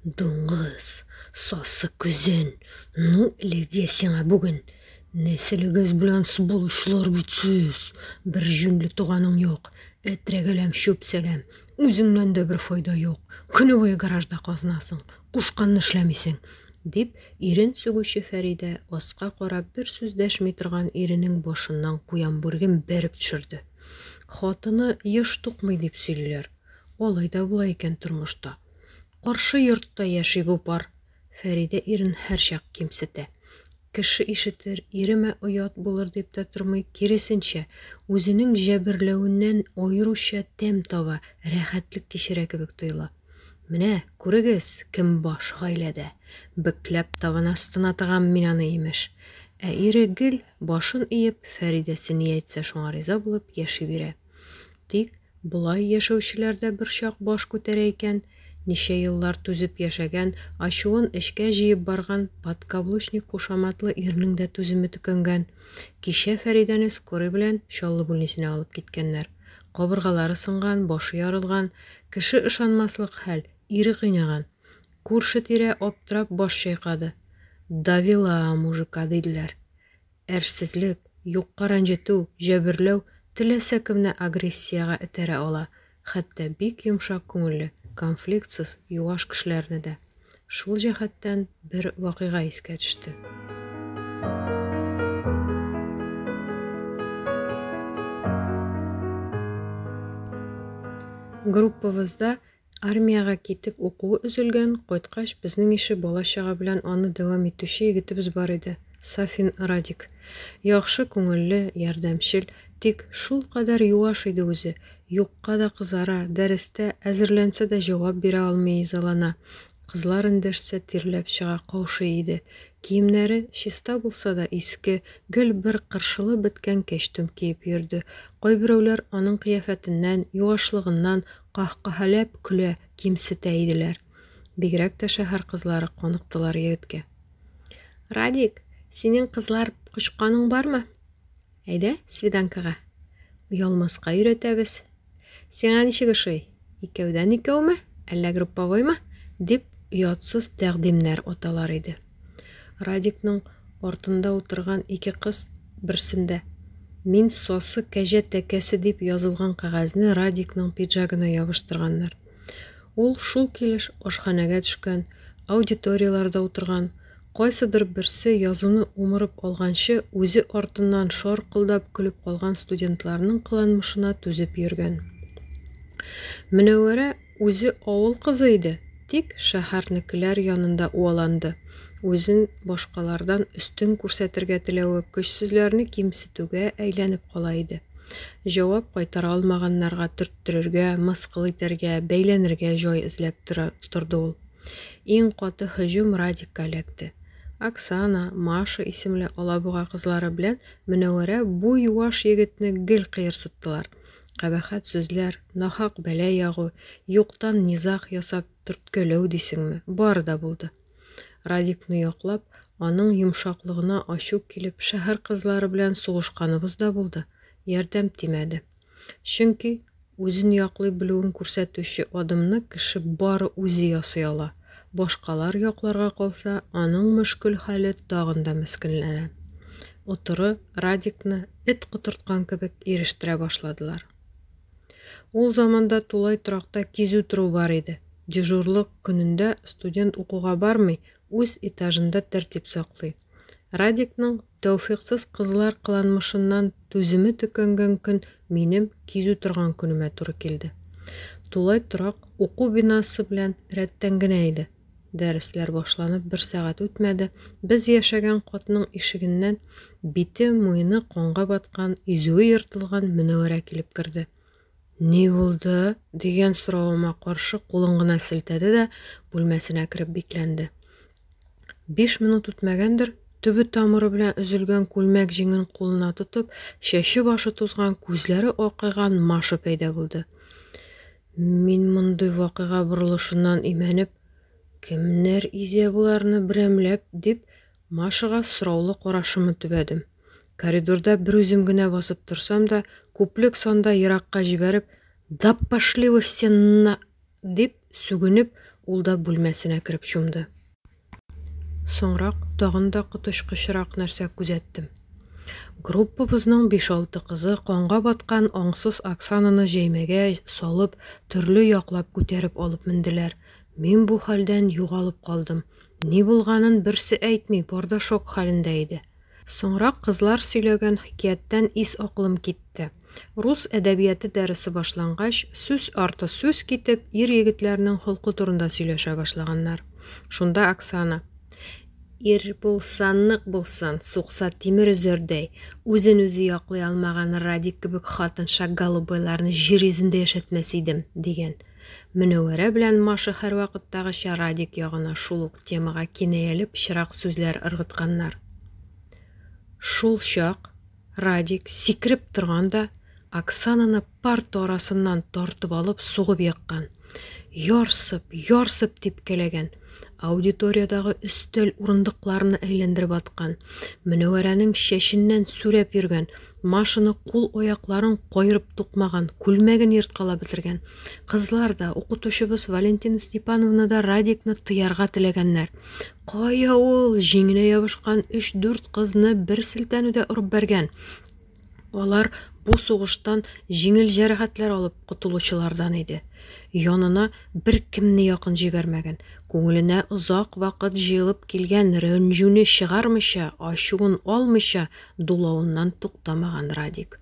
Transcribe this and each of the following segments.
Дуңгыз, сасы көзен, ну элегә сиңа бүген! Нәселегез белән сволочлар бит сез! Бер җүнле туганың юк! Әтрәгәләм, чүп-сәләм! Үзеңнән дә бер файда юк! Көне буе гаражда казынасың, кушканны эшләмисең! дип, ирен сүгүче Фәридә, аска карап, бер сүз дәшми торган иренең башыннан куян бүреген бәреп төшерде. Хатыны еш тукмый дип сөйлиләр. Алай да була икән тормышта. Каршы йортта яши бу пар. Фәридә ирен һәрчак кимсетә. Кеше ишетер, иремә оят булыр дип тә тормый, киресенчә, үзенең җәберләвеннән аеруча тәм таба, рәхәтлек кичерә кебек тоела. Менә, күрегез, кем баш гаиләдә. Бөкләп табан астына тыгам мин аны, имеш. Ә ире гел, башын иеп, Фәридәсе ни әйтсә шуңа риза булып яши бирә. Тик болай яшәүчеләр дә берчак баш күтәрә икән, ничә еллар түзеп яшәгән, ачуын эчкә җыеп барган подкаблучник кушаматлы ирнең дә түземе төкәнгән. Кичә Фәридәне скорый белән Чаллы бүлнисенә алып киткәннәр. Кабыргалары сынган, башы ярылган, кеше ышанмаслык хәл, ире кыйнаган. Күрше-тирә аптырап баш чайкады. Довела мужика, диделәр. Әрсезлек, юкка рәнҗетү, җәберләү теләсә кемне агрессиягә этәрә ала, хәтта бик йомшак күңелле, конфликтсыз, юаш кешеләрне дә. Шул җәһәттән бер вакыйга искә төште. Группабызда Армиягә китеп укуы өзелгән, кайткач, безнең ише бала-чага белән аны дәвам итүче егетебез бар иде, Сафин Радик. Яхшы күңелле, ярдәмчел, тик шулкадәр юаш иде үзе, юкка да кызара, дәрестә әзерләнсә дә җавап бирә алмый изалана, кызлар эндәшсә тирләп чыга, каушый иде. Киемнәре чиста булса да, иске, гел бер кыршылып беткән кәчтүм киеп йөрде. Кайберәүләр аның кыяфәтеннән, юашлыгыннан, Каһкаһәләп көлә, кимсетә иделәр. Бигрәк тә шәһәр кызлары каныктылар егеткә. Радик, синең кызлар кочканың бармы? Әйдә, свиданкага. Оялмаска өйрәтәбез. Сиңа ничек ошый? Икәүдән икәүме, әллә групповоймы? дип, оятсыз тәкъдимнәр аталар иде. Радикның артында утырган ике кыз берсендә. Мин сосы кәҗә тәкәсе дип язылган кәгазьне Радикның пиджагына ябыштырганнар. Ул шул килеш ашханәгә төшкән, аудиторияләрдә утырган, кайсыдыр берсе язуны умырып алганчы үзе артыннан шаркылдап көлеп калган студентларның кыланмышына түзеп йөргән. Мөнәвәрә Үзе авыл кызы иде, тик шәһәрнекеләр янында уаланды. Үзен башкалардан өстен күрсәтергә теләве көчсезләрне кимсетүгә әйләнеп кала иде. Җавап кайтара алмаганнарга төрттерергә, мыскыл итәргә, бәйләнергә җай эзләп тора торды ул. Иң каты һөҗүм Радикка эләкте. Оксана, Маша исемле алабуга кызлары белән Мөнәвәрә бу юаш егетне гел кыерсыттылар. Кабахәт сүзләр, нахак бәла ягу, юктан низаг ясап төрткәләү дисеңме, бар да булды. Радикны яклап, аның йомшаклыгына ачу килеп, шәһәр кызлары белән сугышканыбыз да булды, ярдәм тимәде. Чөнки үзен яклый белүен күрсәтүче адымны кеше бары үзе ясый ала. Башкалар якларга калса, аның мөшкел хәле тагын да мескенләнә. оторы Радикны эт котырткан кебек ирештерә башладылар. Ул заманда тулай торакта кизү тору бар иде. Дежурлык көнендә студент укуга бармый, үз этажында тәртип саклый. Радикның тәүфиксыз кызлар кыланмышыннан түземе төкәнгән көн минем кизү торган көнемә туры килде. Тулай торак уку бинасы белән рәттән генә иде. Дәресләр башланып бер сәгать үтмәде, без яшәгән катның ишегеннән бите, муены канга баткан, изүе ертылган Мөнәвәрә килеп керде. Ни булды? дигән соравыма каршы кулын гына селтәде дә бүлмәсенә кереп бикләнде. Биш минут үтмәгәндер, төбе тамыры белән өзелгән күлмәк җиңен кулына тотып, чәче башы тузган, күзләре акайган Маша пәйда булды. Мин мондый вакыйга борылышыннан имәнеп, Кемнәр изә боларны берәмләп? дип, Машага сораулы карашымны төбәдем. Коридорда берүзем генә басып торсам да, күплек санда еракка җибәреп, Да пошли вы все на! дип сүгенеп, ул да бүлмәсенә кереп чумды. Соңрак тагын да коточкычрак нәрсә күзәттем. Группабызның биш-алты кызы канга баткан аңсыз Оксананы җәймәгә салып, төрле яклап күтәреп алып менделәр. Мин бу хәлдән югалып калдым. Ни булганын берсе әйтми, бар да шок хәлендә иде. Соңрак кызлар сөйләгән хикәяттән ис-акылым китте. Рус әдәбияты дәресе башлангач, сүз арты сүз китеп, ир-егетләрнең холкы турында сөйләшә башлаганнар. Шунда Оксана, Ир булса, нык булсын, сукса тимер өзәрдәй, үзен үзе яклый алмаган Радик кебек хатынша голубойларны җир йөзендә яшәтмәс идем, дигән. Мөнәвәрә белән Маша һәрвакыттагыча Радик ягына шул ук темага кинаяле пычрак сүзләр ыргытканнар. Шул чак Радик, сикереп торган да, Оксананы парта арасыннан тартып алып сугып еккан. Ярсып, ярсып типкәләгән. Аудиториядәге өстәл урындыкларны әйләндереп аткан, Мөнәвәрәнең чәченнән сүрәп йөргән, Машаны кул-аякларын каерып тукмаган, күлмәген ерткалап бетергән. Кызлар да, укытучыбыз Валентина Степановна да Радикны тыярга теләгәннәр. Кая ул, җиңенә ябышкан өч-дүрт кызны бер селтәнүдә орып бәргән. Алар бу сугыштан җиңел җәрәхәтләр алып котылучылардан иде. Янына беркемне якын җибәрмәгән, күңеленә озак вакыт җыелып килгән рәнҗүне чыгармыйча, ачуын алмыйча дулавыннан туктамаган Радик.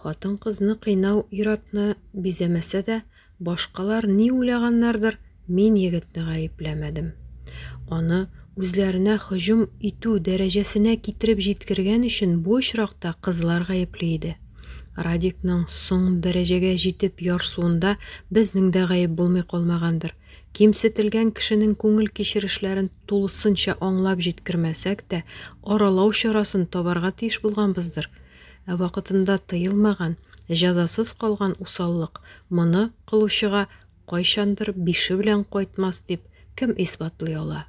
Хатын-кызны кыйнау ир-атны бизәмәсә дә, Башкалар ни уйлаганнардыр, мин егетне гаепләмәдем. Аны үзләренә һөҗүм итү дәрәҗәсенә китереп җиткергән өчен бу очракта кызлар гаепле иде. Радикның соң дәрәҗәгә җитеп ярсуында безнең дә гаеп булмый калмагандыр. Кимсетелгән кешенең күңел кичерешләрен тулысынча аңлап җиткермәсәк тә, аралау чарасын табарга тиеш булганбыздыр. Ә вакытында тыелмаган, җәзасыз калган усаллык моны кылучыга кайчандыр бише белән кайтмас дип кем исбатлый ала?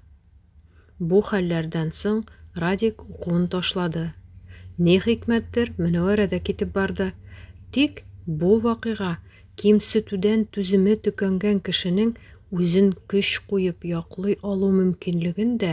Бу хәлләрдән соң Радик укуын ташлады. Ни хикмәттер, Мөнәвәрә дә китеп барды. Тик бу вакыйга кимсетүдән түземе төкәнгән кешенең үзен көч куеп яклый алу мөмкинлеген дә